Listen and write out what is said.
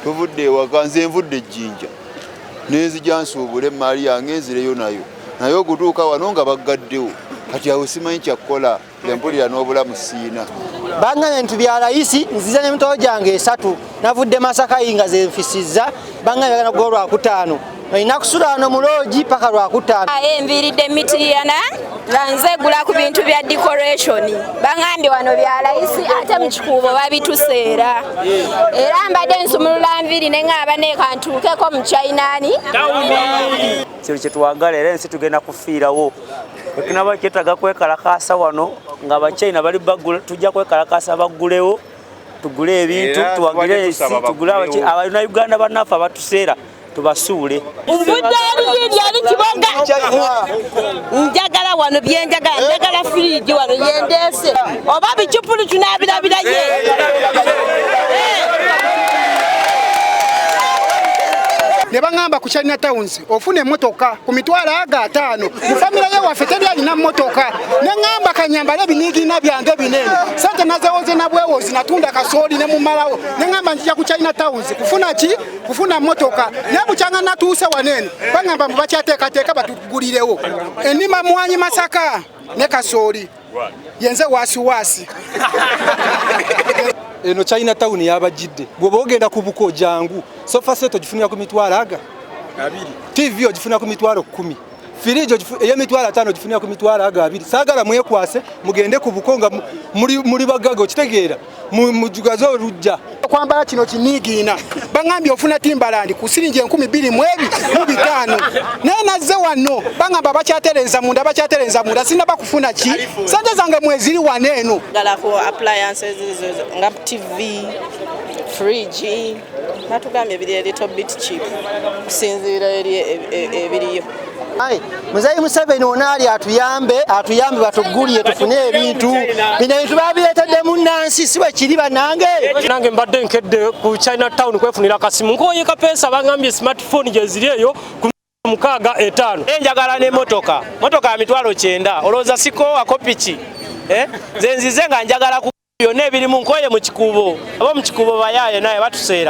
tuvudde ewaka nze nvudde ejjinja nenzija nsuubula emmaali yange enzireyo nayo naye okutuuka wano nga baggaddewo kati awo simanyi kyakukola empulira n'obulamu siina bangane nti bya layisi nziza n'emitoo gyange esatu navudde masakayi nga zenfisizza bangane bagana gwa olwakutaano olina kusula wano mu loogi paka lwakutaano ah, eh, nviiridde mitiriyana nga nzegula ku bintu bya decoration baŋambye wano bya layisi ate mu kikuubo babituseera era mbadde nsumulula nviiri ne ŋaaba nekantuukeko mu chainaani kino kyetwagala era ensi tugenda kufiirawo ekinaba kyetaaga kwekalakaasa wano nga abachina bali bagula tujja kwekalakaasa baggulewo tugule ebintu tuwagire ensi tugule abalina uganda banaffe abatuseera tubasuule njagala wano byenjagala njagala firiji wano yendeese oba bicupuli tunabirabira ye ne baŋŋamba ku china towns ofuna emmotoka ku mitwalo aga ataano mu famire ye waffe teri alina mmotoka ne ŋŋamba kanyambala ebiniigiina byange binene sente nazewoze nabwewozi natunda kasooli ne mumalawo ne ŋŋamba njija ku china towns kufuna ki kufuna motoka naye bukyanga natuuse waneeno bagamba mbu bakyateekateeka batugulirewo enima mwanyi masaka ne kasooli yenze waasiwaasi eno china town yabajidde bwoba ogenda ku buko jangu sofa set ogifunira ku mitwalo aga tv ogifunira ku mitwalo kumi firijo eyemitwalo ataano gifunira ku mitwalo ago abiri saagala mwekwase mugende ku buko nga muli bagaga okitegeera mujugaze olujja okwambala kino kiniigiina baŋambye ofuna timbalandi ku siringi enkumi bbiri mu ebi mu bitaano naye nazze wano baŋamba bakyatereeza munda bakyatereeza munda sirina bakufuna ki sente zange mweziri wano eno galako appliances nga tv fridge natugambye ebiri elito bit chip kusinziira eri e, e, e, ebiriyo Ayi, muzayi Museveni wona ali atuyambe atuyambe batugulire tufune ebintu bino ebintu babireetedde mu nnansi si bwe kiri banange nange mbadde nkedde ku china town kwefunira kasimu nkoye kapeesa bangambye smartphone gyeziri eyo mukaaga etaano eh, njagala ne motoka motoka ya mitwalo kyenda olowooza sikoowako piki eh, nze nzize nga njagala ku byonna ebirimu nkoye mu kikuubo aba mu kikuubo bayaaye naye batuseera